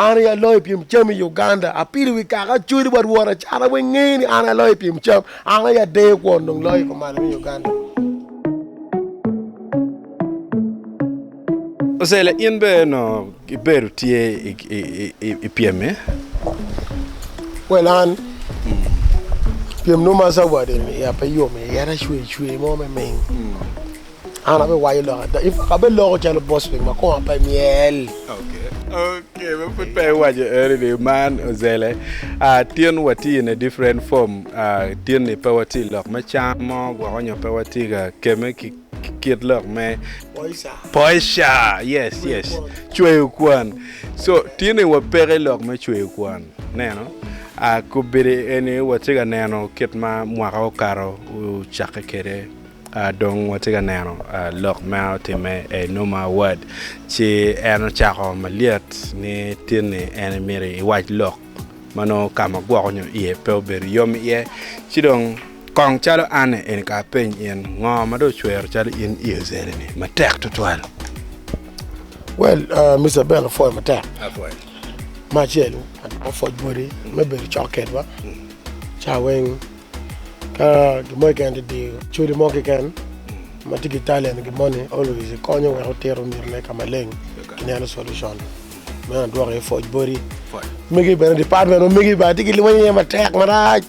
An aye aloyo i pyem cam i Uganda, apilo wi kaka acwali bot wora cara weng nge ni an aye aloyo i pyem cam, an aye adeyo kwon dong loyo i komalo me Uganda. Ocelia in bene onongo ibedo tye i pyem-mi? Well an pyem nongo ma zawadi ni ya pe yom iye, en acweyo cwer mo me ming. An abiwayo lok ada, abeloko calo bocwiny ma koma pe myel. Pud pe iwaco eri ni man ozele. Ah, tin watye in a different form. Ah, tin ni pe watye i lok me cam mo gwoko nyo pe watye ka keme ki ki kit lok me Poisha. poisha. Yes, Cweyo yes. kwan. Cweyo kwan. So, tin ni wapeke i lok me cweyo kwan. Neno. Ah, kobedi eni watye ka neno kit ma mwaka okato ocakke kwede Dong watye ka neno lok ma otimme i Numa Awad, ci en ocako malyet ni tin-ni en myero iwac lok ma nongo ka ma gwoko nyo iye pe obedo yom iye. Ci dong kong calo an eni ka apeny in, ngo ma dong ocwero calo in i ozele-ni matek tutwal? Well, Mister Abel apwoyo matek. Me acel, apwoc boti me bedo cok kedwa, ca weng. Ka gin mo keken tye diyo code mo keken ma tye ki talent gin moni always ikonyo wek otito myero ne kama leng ki neno solution me adwoki aye pwoc body mege bene department ma mege ba tye ki lweny aye matek marac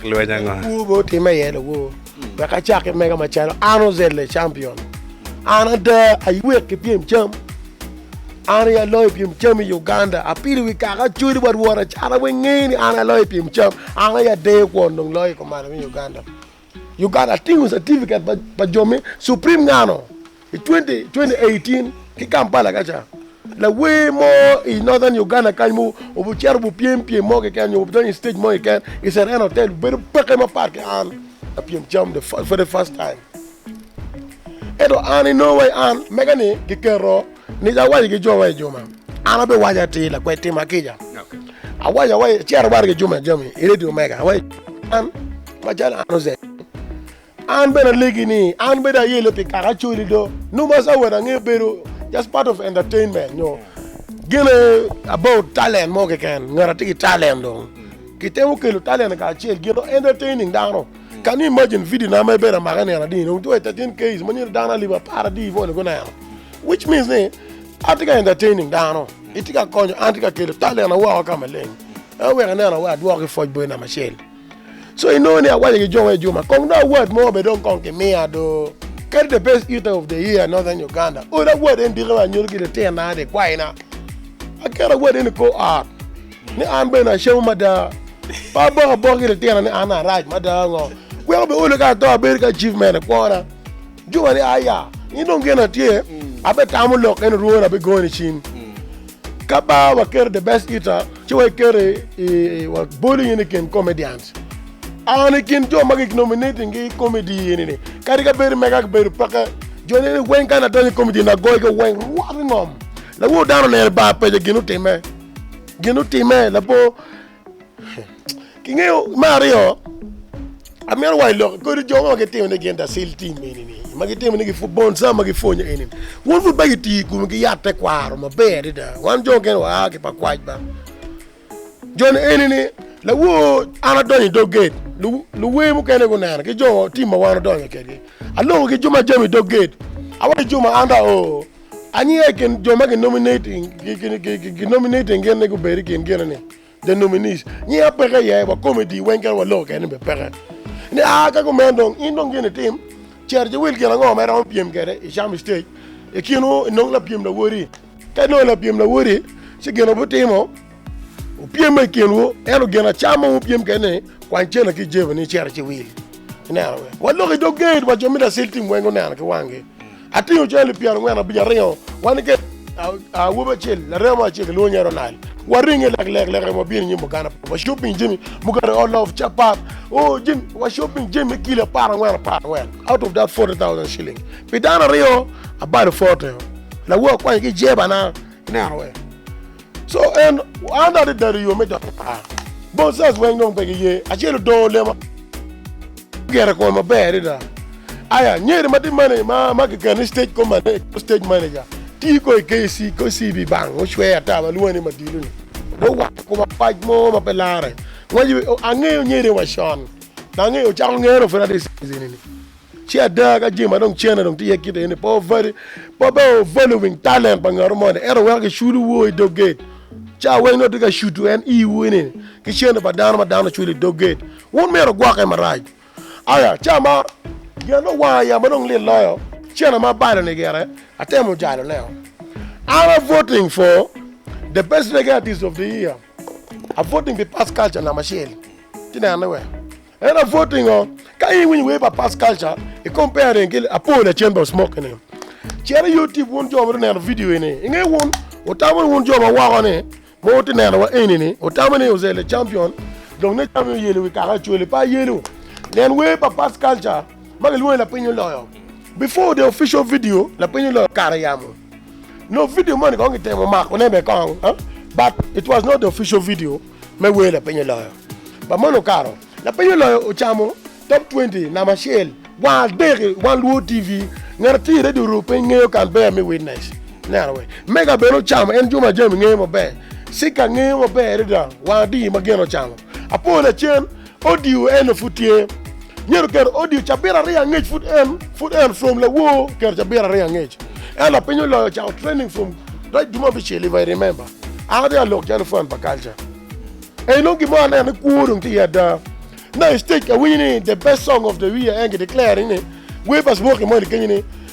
lawo be otime aye lawo wek acaki mega macalo an ozel the champion an ada aywek ki pyem cam. An aye aloyo i pyem cam i Uganda, apilo wi kaka acodi bot wota cara weng ngeyo ni an aye aloyo i pyem cam, an aye adeyo kwon dong loyo i kom malo me Uganda. Uganda atingo certificate pa jo me Supreme Ngano i twenty twenty eighteen ki Kampala ka ca. Lawer mo i Northern Uganda kany ma obicito obipyem pyem mo keken nyo obidonyo i stage mo keken i Serena Hotel obedo peke mapat ki an lapyem cam the very first time. Ento an, i nongo wa i an, mega ni giketo ni awaco ki jowa i juma, an abiwaco atir lakwed tima kica. Awaco awaco acito baro ki juma jami i redio mega, awaco an macalo an oze an bene alegi ni an bedo ayele pi kaka acoli do nongo ma sawot ange bedo just part of entertainment nyo gene about talent mo keken ngat atye ki talent dong kitemo kelo talent kacel gin entertaining dano Kan ni imagine video na ma ibedo amaka ineno adi dong two 13 case manyo dano alip apar adi iwone guneno which means ni atye ka entertaining dano itye ka konyo an tye ka kelo talena woko ka maleng ema wek ineno wa adwoko ki foc boyo namba acel so inongo ni awaco ki jongo ejuma kong dong award mo be dong kong kimiya do kadi the best eater of the year northern Uganda ora award eni diki wa anyuto ki litena ni kwayina aketo award eni kor ot Ni an bene acamo mada. Pe aboko abok ki litino ni an arac mada ango. Weko bene olo ka ato abedo ki achievement ekwona. Juba ni aya, in dong gin atye, ape tamo lok kene orwoni ape goni cim. Ka ba wa keto the best eater ci wa keto i wa boli in i kin comedians. An i kin jo ma ki nominating gi i comedy ini ni. Kadi ka bedo mega ki bedo peke, jo ni ni weng ka na donyo i comedy na goyo gi weng rwot i ngom. Lawor dano oneno i bar pejo gin otime. Gin otime labor kingeyo me aryo amyero wai lok kodi jo ma gitimo ni gin dasil tim eni ni ma gitimo ni gifu bon sa ma gipwonyo eni won pud ba giti kumi ki yat te kwaro ma ber adida wan jo gen wa ki pa kwac ba jo ni eni ni lawo an adonyo i dog gate luwe mukene guneno ki jo tim ma wan odonyo kedi aloko ki jo ma jami i dog gate awai jo ma an da oo Anya i kin jo ma ginominating gin ni gubed i kin gin ni, the nominees, nyinga peke iye, wa komedi weng kadi wa loko keni bene peke. Ni a ka kumeno dong in dong gin itim, cito ci wil gin ango ma iromo pyem kede i cam i stage, i kinu inong lapyem lawoti. Ka inongo lapyem lawoti ci gin wubitimo. Wupyema i kinwu, ento gin acama ma wupyem kwede ni, Kwany cente ki jebi ni icito ci wil. Ineno? Waloko i dog gate wa jo me Lasil tim weng guneno ki wanggi. Atingo cwale lipyera angwen abic aringo wan ki awobi acel, laremo acel kilwongo ni Ronald. Waringe leklek lek ento wabino i nyim Buganda Pub. Wa shopping jami mukene all of capat. O, jami, wa shopping jami me kilo apar angwen apar angwen out of that forty thousand shilling. Pi dano aryo, abalo forty-o. Lawa kwanyo ki jebana. Ineno? Co en, An adada ri yo me donyo par. Bonsaz weng dong pe giye. Acel odongo lema. Gero i kome maber adada. Aya, nyeri ma tye mane ma ma kikene ni stage ko mane, stage manager. Ti ko i KC, KCB bang ocwe ata ma lwonge ni Madilu ni. Dong owaco i koma pac mo ma pe lare. Ngwec, angeyo nyeri wa con. Dong angeyo, ocako ngene dong pud ati i stage eni ni. Ci ada, ka jami ma dong cene dong tye iye kit eni, pe wubali, pe wubed wubali luwiny talent pa ngat mo moni, ento wuwek giculo woo i dog gate. Ca weng nongo tye ka cuto en iwu ni, ki cene pa dano ma dano oculo i dog gate, wun myero wugwokke marac. Aya, ca ma gin ma dong wanga yam ma dong lit loyo, cene ma abalo-ni gire, atemo jaloneo. An a voting for the best reggae artist of the year, a voting pi Past Culture namba acel. Ci nene wek. En apwod pingo ka in iwinyo wer pa Past Culture i comparing ki Apol ya Chamber of Smoke eni. Cit i YouTube wun jo ma dong neno video eni. I nge wun, wutamo ni wun jo ma woko ni ma wutye neno wa eni ni wutamo ni Ozel the Champion dong ne camo oyelo i wi kaka Acholi pe ayelo. Nen wer pa Past Culture ma gilwongo ni Lapiny Oloyo. Before the official video Lapiny Oloyo kare yamo. Nongo video moni kong kitemo mako ne bene kong but it was not the official video. me wer lapeny oloyo. Ba moni okato, lapeny oloyo ocamo Top Twenty namba acel wa adek i One Luo TV. Ngat atir iredi oru piny ngeyo Canberra me Witness. Neno we. Mega bene ocamo en Juma Jami ngeyo maber. Sika ngeyo maber adada wa adi ma gin ocamo. Apo lacen Odio eno pud tye. Myero oketo odio cabit aryo angec pud en pud en from lawoo oketo cabit aryo angec en lapiny oloyo ocako training from rec duma bicel if I remember an atye ka lok calo fan pa culture ey nongo gimo aneno ni kwo dong tye iye ada na i stage awinyo ni the best song of the year en ki declaring ni webers walking moni kenyo ni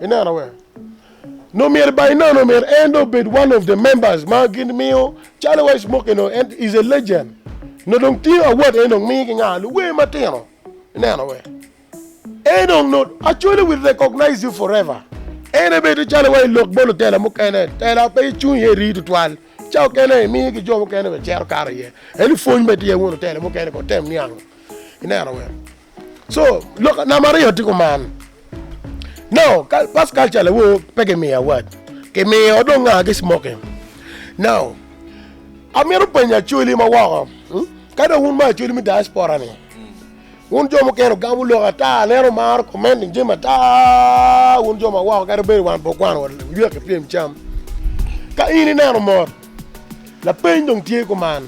ineno we nongo myero ba inono myero en dong obed one of the members ma gin miyo calo wa ismoke no en is a legend no dong tingo award en dong miyo ki nga luwer matino ineno we en dong no actually we recognize you forever en ebedo calo wa ilok bolo tela mukene tela pe icung iye rii tutwal ca okene imiyo ki jo mukene be cero karo iye en ipwony be tye wono tela mukene ko tem niang ineno we So lok nam aryo tye kuman. Now first culture lawo pe ki miyo award ki miyo dong nga ki smoking. Now amito penyo acholi ma woko hmm? ka dong wun ma acholi mi diaspora ni wun jo mukene ogamo lok ata aneno maro commenting jami ata wun jo ma woko kadi bedo wan po kwano wa lywek ki pyem cam ka in ineno mot lapeny dong tye kuman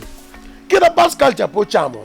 kita first culture pe ocamo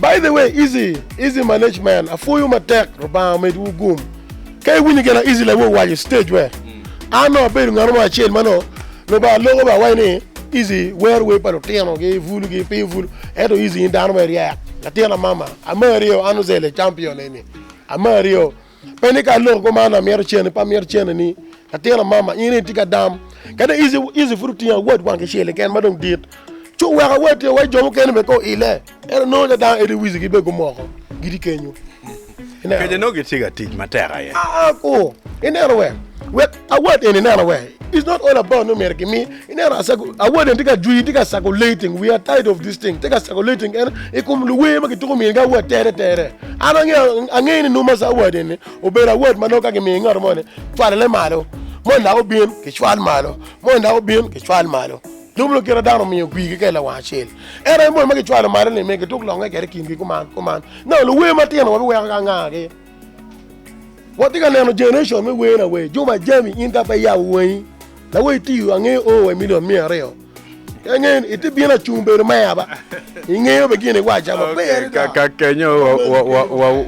By the way easy easy manage man apwoyo matek Lubanga omed wu gum ka iwinyo gin a easy lawu owaco i stage wer an nongo abedo ngano mo acel ma nongo Lubanga loko ba awaco ni easy wero wer pa lutino gi bulu gi pinyo bulu ento easy in dano me ryek latin amama amari o an ozel e champion eni amari o. Pe ni ka aloko koma ni amito cene, pe amito cene ni latin amama in itye ka dam kadi ici pud otingo awot wang kicel keken ma dong dit ci oweko awot tye wa jo mukene bene ko ile ento nongo ca dano ento wic gi bene gumoko gitye kenyo. Keco nongo gitye ka tic matek aye. Aa koo ineno wek wek Award eni ineno we is not all about nongo myero gimi ineno asago award eni tye ka jwi tye ka sago lating we are tired of this thing tye ka sago lating en i kom luwer ma gituko myero ga award tere tere an ange ange ni numa sa award eni obedo award ma nongo ka gimiyo ngat mo ni cwalale malo mo ndak obin ki cwal malo mo ndak obin ki cwal malo nongo nongo kite dano miyo gwi ki ka lawang acel en aye mo ma gicwalo malo ni me gituk longe kede kingi kuman kuman nongo luwer matino wa biweko ka ngagi Watye ka neno generation me wer na wer Juma Jami in ka pe iyabo wangi la wa itiyo ange oo wa imilion miya aryo ka ngen iti bino acung bedo meya ba ingeyo be gin iwaca ma pe yadi da ka kenyo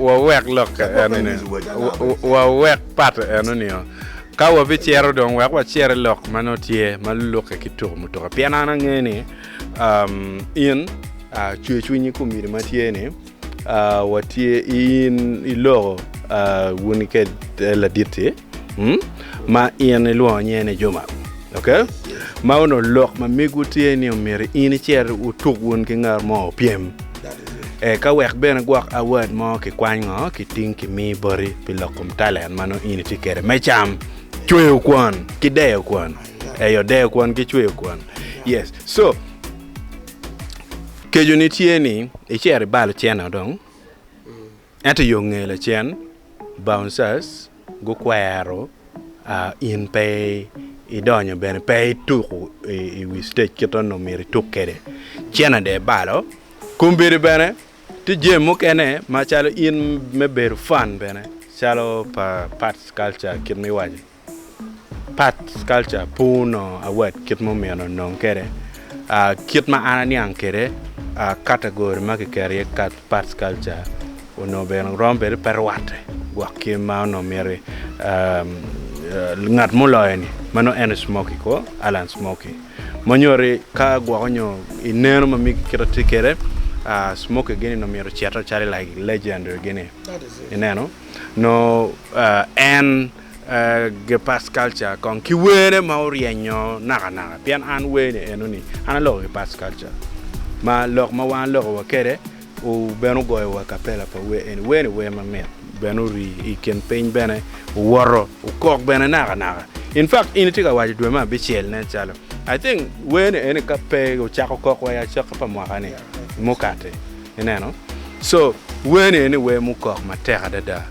wa wek lok enoni wa wek pat enoni oo ka wa bi cero dong wek wa cere lok ma nongo tye ma luke ki tuku mutuka pien an ange ni in cwer cwinyi ku myero ma tye ni watye in iloko wuni kede laditti ma in ilwongo nyinge ni Juma ok ma onongo lok ma migwu tye ni omyero in icit wutuk wun ki ngat mo opyem eka wek bene gwok award mo kikwany ngo kiting kimi boti pi lok kom talent ma nongo in itye kede me cam cweyo kwon ki deyo kwon eyo deyo kwon ki cweyo kwon yes so Keconi tye ni icito ibalo cente dong ento yo nge lacen bouncers gukwero in pe idonyo bene pe ituko i wi stage kit ma myero ituk kwede cene dong ibalo. Kombeddi bene tye jami mukene macalo in me bedo fun bene calo pa arts culture kit ma iwaco-ni. Part culture pu onongo award kit ma omyero onong kwede, kit ma an aniang kwede category ma kiketo iye part culture onongo bene rom bene pe rwatte gwok ki ma onongo myero ngat ma oloyo ni meno en aye Smoky kwo Alan Smoky ma nyutti ka gwoko nyo i neno ma migi kit ma tye kwede Smoky gini onongo myero ocito calo like legend gini ineno nyo en Gepard Culture kong ki werne ma oryenyo nakanaka pien an werne enoni an aloko Gepard Culture ma lok ma wan aloko wa kede bene ogoyo wa kapela pa wer eni wer ni wer ma mit bene ori i kin piny bene owoto okok bene nakanaka in fact in itye ka waco dwe me abicel nen calo I think wer ni eni ka pe ocako kok wa i acoki pa mwaka ni mukati ineno so wer ni eni wer mukok matek adada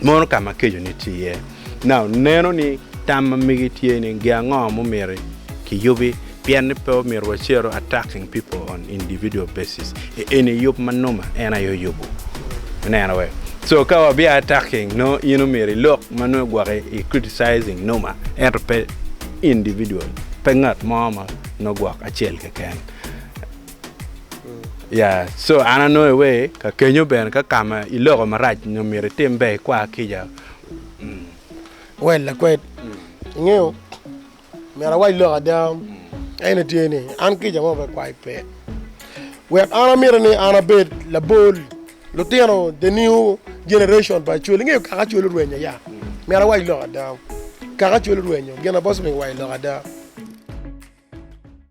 mono ka ma kecone tye iye. Nau neno ni tam ma mege tye ni gi ango mumiti ki yubi pien ni pe omyero wa cero attacking people on individual basis e eni yub ma numa en aye oyubu ineno wek so ka wa bia attacking no in omyero ilok ma nongo igwoki i criticizing numa ento pe individual pe ngat mo ma nongo gwok acel keken. Ya, co an anongo iwe ka kenyo bene ka kama iloko marac nyo myero itim ber ikwa kica. Wel lakwed, ingeyo myero awac lok ada ene tye ni an kica mo pe kwai pe. Wek an amito ni an abed labol lutino the new generation pa Acholi. Ingeyo kaka Acholi orwenyo ya? Myero awac lok ada. Kaka Acholi orwenyo gin na boss omiyo iwaco lok ada.